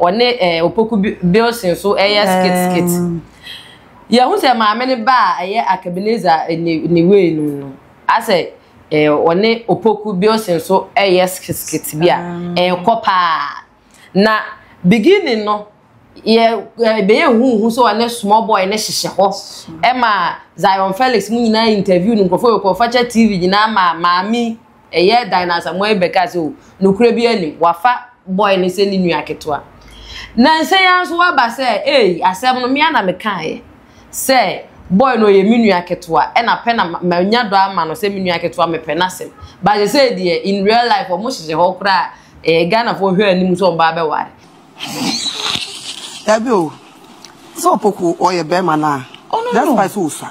Ɔne eh, Opoku Bilson nso yɛ skit skit. Yɛhu sɛ maame no ba a ɛyɛ Akabineza ne ne wei no no, asɛ eh, ɔne Opoku Bilson nso yɛ skit skit bi a ɛkɔ paa. Na beginning no, yɛ eh, bɛyɛ huhu sɛ ɔne small boy no hyehyɛ hɔ. Ɛma Zion Felix mu nyinaa interview no nkurɔfoɔ yɛ kɔfakyɛ TV nyinaa ma maame Ɛyɛɛ dan no asamoah yi bɛkaa sɛ o, nokorɛ biara nnim, wafa boy no sɛ ne nua ketewa. Nansa yi ara nso waba sɛ ei, asɛm no me ara na mekaaeɛ sɛ boy no ɔyɛ me nua ketewa, ɛna pɛ na manya dɔ ama no sɛ me nua ketewa, mepɛ n'asɛm. But sesei deɛ in real life wɔn hyehyɛ hɔ koraa a, eh, Ghanafoɔ hwɛ anim sɛ wɔn ba abɛware. Dabi o, sɛ opoku ɔyɛ bɛɛma no a, despite sɛ osua.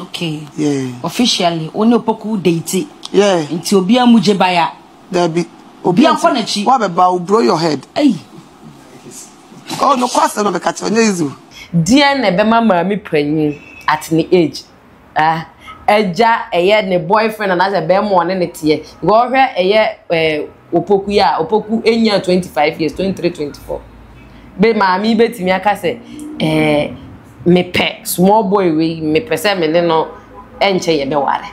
Okay. Yeah. Officially, one opoku date. Yeah. Nti obi amu je baya. There be. Obi akọ na chi. Wa beba o blow your head. Hey. Oh no kwasa no be ka che onye izu. Dear na be ma maami panyin at ne age. Ah. Eja eye ne boyfriend and as a be mo ne ne tie. Go hwe eye eh opoku ya, opoku enya 25 years, 23 24. Be maami betimi aka se eh mepɛ small boy wei mepɛ sɛ me ne no ɛnkyɛ yɛbɛware.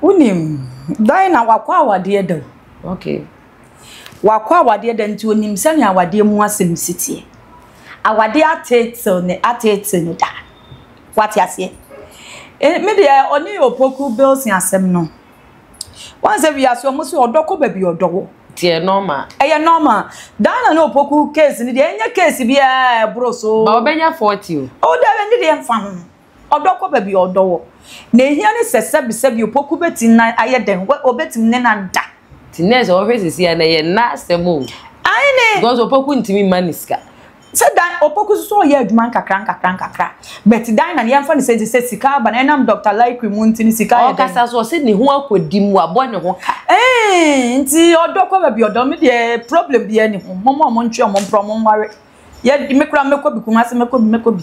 Wonim dan na wakɔ awadeɛ da o. Okay. Wakɔ awadeɛ da nti onim sɛnea awadeɛ mu asɛm si teɛ. Awadeɛ ateetew ne ateetew ne da. Wate aseɛ? Me deɛ ɔne Opoku Bilson asɛm no. Wansɛ wiase ɔmo se ɔdɔ kɔ baabi ɔdɔ wɔ. Nti ɛyɛ normal. Ɛyɛ normal. Diana ne Opoku case no deɛ ɛnyɛ case biaa a ɛboro so. Ba ɔbɛnya 40 o. Oh daabi ɛnde deɛ ɛmfa ho. Ɔdɔ kɔ baabi ɔdɔ wɔ. Nea ehia ne sɛ sɛbi sɛbi Opoku bɛtim na ayɛ dɛn ɔbɛtim ne no ada. Nti nurse ɔhwɛ sisi a na ɛyɛ nna asɛm o. Aane. Because Opoku ntimi mma no sika. Sɛ dan opoku so so ɔyɛ adwuma nkakra nkakra nkakra but dan na yɛmfa no sɛ te sɛ sika aba no ɛnam Doctor Lyckrey mu nti no sika yɛ dɛn? Ɔkasa so ɔse ne ho akɔdi mu wabɔ ne ho ka. Eeii nti ɔdɔ kɔ baabi ɔdɔ me deɛ problem biaa ni ho momma ɔmo ntwe ɔmo mpra ɔmo nware yɛ me koraa mɛkɔ bi Kumasi mɛkɔ bi mɛkɔ bi.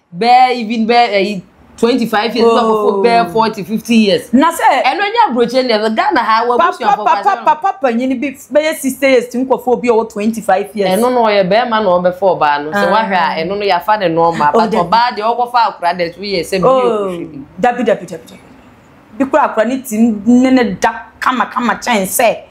bɛɛ even bɛɛ ɛyi eh, twenty five years bɛɛ kɔkɔ oh. bɛɛ forty fifty years. na sɛ ɛno nyɛ aburokyerɛ ni ɛfɛ ghana ha wɔ abusuafo papa papa papa panyin bi bɛyɛ sixty years ti nkɔfo bi ɔwɔ twenty five years. ɛno no ɔyɛ bɛrima na ɔbɛfa ɔbaa no sɛ ah. wahwɛ a ɛno no yafa ne nɔɔma oh, but ɔbaa deɛ ɔkɔfa akora dɛ so yɛ sɛ bi yɛ oh, ɔhwɛ bi. dabi dabi dabi dabi bi kura akora ne ti ne ne da kamakama kyɛn sɛ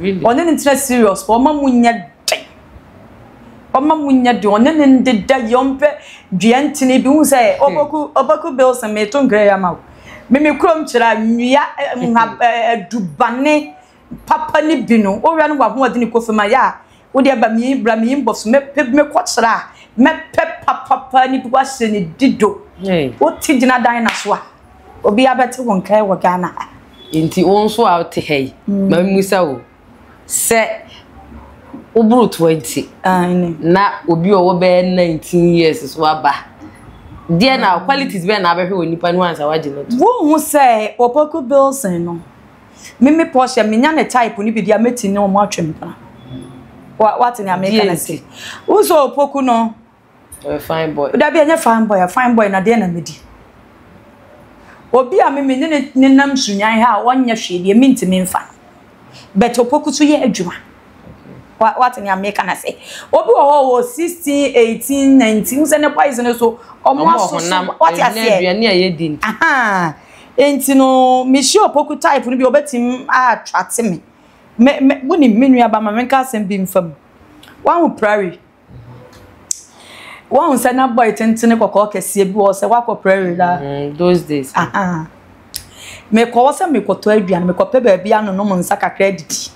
Ɔne no ntena serious paa, ɔma mu nyɛ den. Ɔma mu nyɛ den, ɔne no ndeda yie, ɔmpɛ dua ntini bi. Wohu sɛ Ɔboku, Ɔboku Bilson, meeto nkra yi ama wo. Me me kurom kyerɛ a, nnua, nhab, adubane papa no bi no, wohwɛ no, w'ahoɔdene kɔ fam a, yɛ a, wo deɛ ba mii bra mii mbɔ so mɛ pɛ bi mɛ kɔ kyerɛ a mɛ pɛ papapa ni bi wa se ne di do wo te gyina dan na so a obi abɛ te wo nkae wɔ Ghana ha. Nti wo nso a te ha yi mm. ma mu sa wo sɛ wo boro 20 ah, na obi ɔwɔ bɛ 19 years so aba deɛ na mm. qualities bɛ na abɛhwɛ wɔ nipa no ansa wagye no to. Wo hu sɛ Opoku Bilson no. Me me Portia menya ne type no bi deɛ mɛti ne wɔn atwam paa. Wa wate nea meka Deɛ no nti. se. Wosɛ opoku no. Ɔyɛ fine boy. Dabi ɛnyɛ fine boy a fine boy na deɛ na medi. Obi a me me ne ne ne nam sunyan ha a ɔnyɛ hwee deɛ mentumi mfa no. But opoku so yɛ adwuma. Wa wate nea meka no se. Obi wɔ hɔ a ɔwɔ sixteen, eighteen, nineteen wosɛ ne boys no so wɔn Ɔmo wɔ asoso honam, wate aduane aseɛ. aduane a yɛdi nti. Ahaa. Enti no, mehyia opoku type no bi a, obetumi aattracte me. Me, me, wonim, me nuaba, ma menka asɛm bi mfa mu. Woahu prairie? Woahu sɛ na boy tentene kɔkɔɔ kɛseɛ bi wɔ hɔ sɛ woakɔ prairie daa? Mm, those days. Aha. Mekɔ hɔ sɛ mekɔtɔ aduane, mekɔpɛ baabi anonom nsa kakra adidi.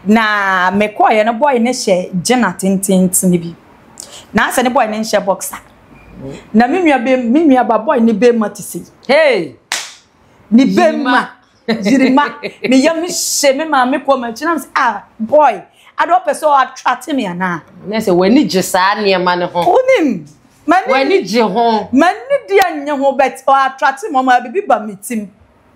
Na mekɔeɛ no, boy no hyɛ gyena tententene bi. Na asɛ ne boy no nhyɛ boxer. na me nua be me nua ba boy ne bema te sei hey ne bema jirima me yam hye me ma me kɔ ma kyinam se ah boy ade ɔpɛ sɛ ɔatrate me ana na sɛ w'ani gye saa nneɛma no ho wonim mani w'ani gye ho mani di anyɛ ho bet ɔatrate me ɔma bibi ba me tim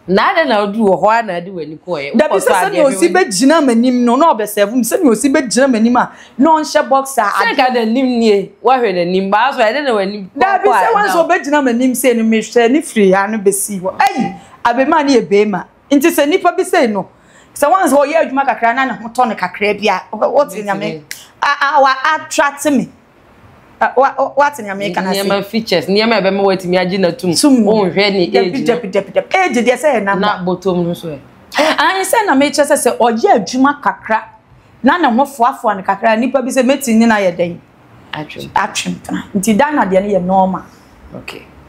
na adɛn na woduu wɔ hɔ ara na ade w'ani kɔeɛ dabi sɛ sɛdeɛ ɔsi bɛgyina m'anim no na ɔbɛsɛvo m sɛdeɛ ɔsi bɛgyina m'anim a na ɔnhyɛ box a sɛ ka n'anim nie woahwɛ n'anim baa so ɛdɛ na w'anim dabi sɛ wɔn sɛ ɔbɛgyina m'anim sei no mehwɛ ne firi ha no bɛsi hɔ ayi abɛma ne yɛ bɛɛma nti sɛ nnipa bi sei no sɛ wɔn sɛ ɔyɛ adwuma kakra na ne ho tɔ no kakra bi a wɔte nyame awa atrate me wate nea meka na se nneɛma features nneɛma a ɛbɛma watumi agye na tum wonhwɛ ne age no age deɛ sɛ yɛ namba na bɔtɔm no so ɛ ayi sɛ na mekyɛ sɛ sɛ ɔyɛ adwuma kakra na ne ho foafoa no kakra nipa bi sɛ mɛti ne na yɛ dɛn atwem atwem tena nti dan na deɛ no yɛ normal okay